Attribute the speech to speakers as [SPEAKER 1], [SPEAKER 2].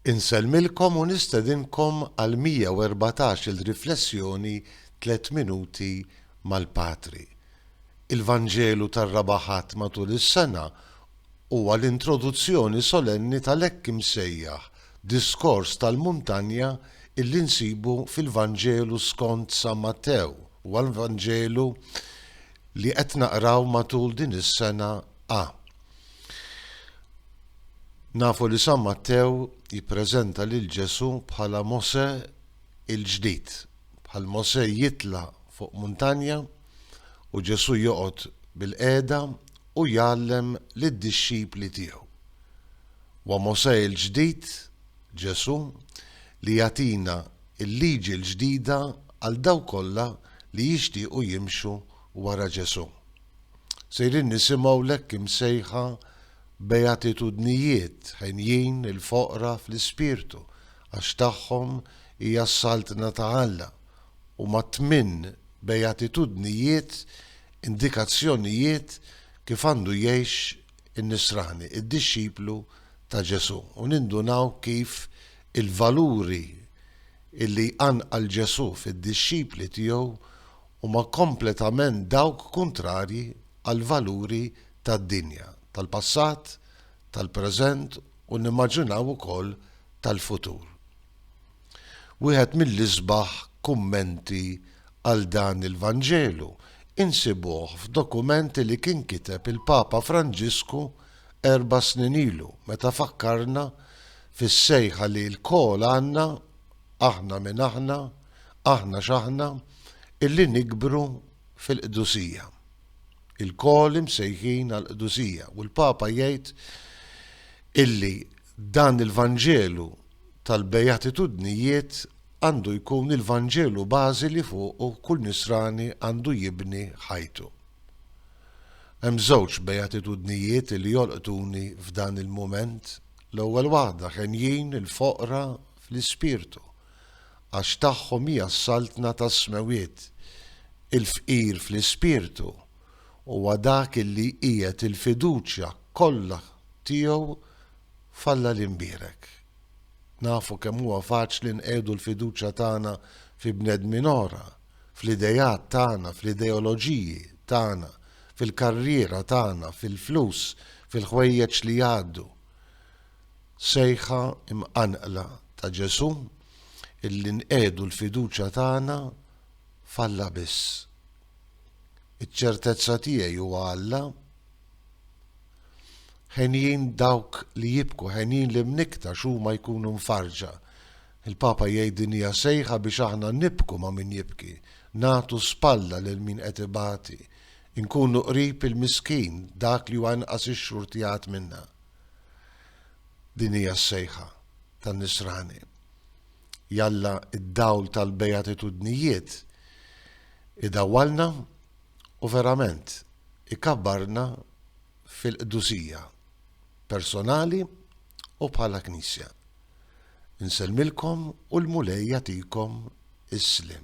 [SPEAKER 1] Insellmilkom u nistedinkom għal 114-il riflessjoni Tliet Minuti mal-Patri. Il-Vanġelu tar-Raba' Ħadd matul is-sena huwa l-introduzzjoni solenni tal-hekk imsejjaħ Diskors tal-Muntanja illi nsibu fil-Vanġelu skont San Mattew. Huwa l-Vanġelu li qed naqraw matul din is-sena a. Nafu li San Mattew jippreżenta lil Ġesù bħala Mosè il-ġdid, bħal Mosè jitla' fuq muntanja u Ġesù joqgħod bilqiegħda u jgħallem lid-dixxipli tiegħu. Huwa Mosè il-ġdid, Ġesù, li jagħtina l-liġi l-ġdida għal dawk kollha li jixtiequ jimxu wara Ġesù. Sejrin nisimgħu l-hekk imsejħa beatitudnijiet, henjin il-foqra fl-ispirtu, għax tagħhom hija s-Saltna ta' Alla, u mat-tmien beatitudnijiet indikazzjonijiet kif għandu jgħix in-nisrani, id-dixxiplu ta' Ġesù, u nindunaw kif il-valuri li jqanqal Ġesù fid-dixxipli tiegħu huma kompletament dawk kuntrarji għall-valuri tad-dinja tal-passat, tal-preżent u nimmaġinaw ukoll tal-futur. Wieħed mill-isbaħ kummenti għal dan il-Vanġelu insibuh f'dokument li kien kiteb il-Papa Franġisku erba' snin ilu meta fakkarna fis-sejħa li lkoll għandna, aħna min aħna, aħna x'aħna illi nikbru fil-qdusija. Ilkoll imsejħin għall-qdusija u l-Papa jgħid illi dan il-Vanġelu tal-Bejatitudnijiet għandu jkun il-Vanġelu bażi li fuqu kull nisrani għandu jibni ħajtu. Hemm żewġ bejatitudnijiet li jolqtuni f'dan il-mument, l-ewwel waħda ħenjin il-foqra fl-ispirtu, Għax tagħhom hija s-saltna tas-smewwiet. Il-fqir fl-ispirtu huwa dak li jqiegħed il-fiduċja kollha tiegħu f'Alla l-Imbierek. Nafu kemm huwa faċli nqiegħdu l-fiduċja tagħna fi bnedmin oħra, fl-ideat tagħna, fl-ideoloġiji tagħna, fil-karriera tagħna, fil-flus, fil-ħwejjeġ li jgħaddu. sejħa mqanqla ta' Ġesù illi nqiegħdu l-fiduċja tagħna f'Alla biss. Iċ-ċertezza tiegħi huwa Alla. Henjin dawk li jibku, henjin li mnikta x'huma jkunu mfarġa. Il-Papa jgħid din hija sejħa biex aħna nibku ma' min jibki, nagħtu spalla lil min qed ibati, inkunu qrib il-miskin, dak li huwa inqas ix-xhur tiegħat minna. Din hija s-sejħa tan-Nisrani. Jalla d-dawl tal-Bejatitudnijiet idawwalna u verament ikabbarna fil-qdusija, personali u bħala Knisja. Insellmilkom u l-Mulej jagħtikom is-sliem.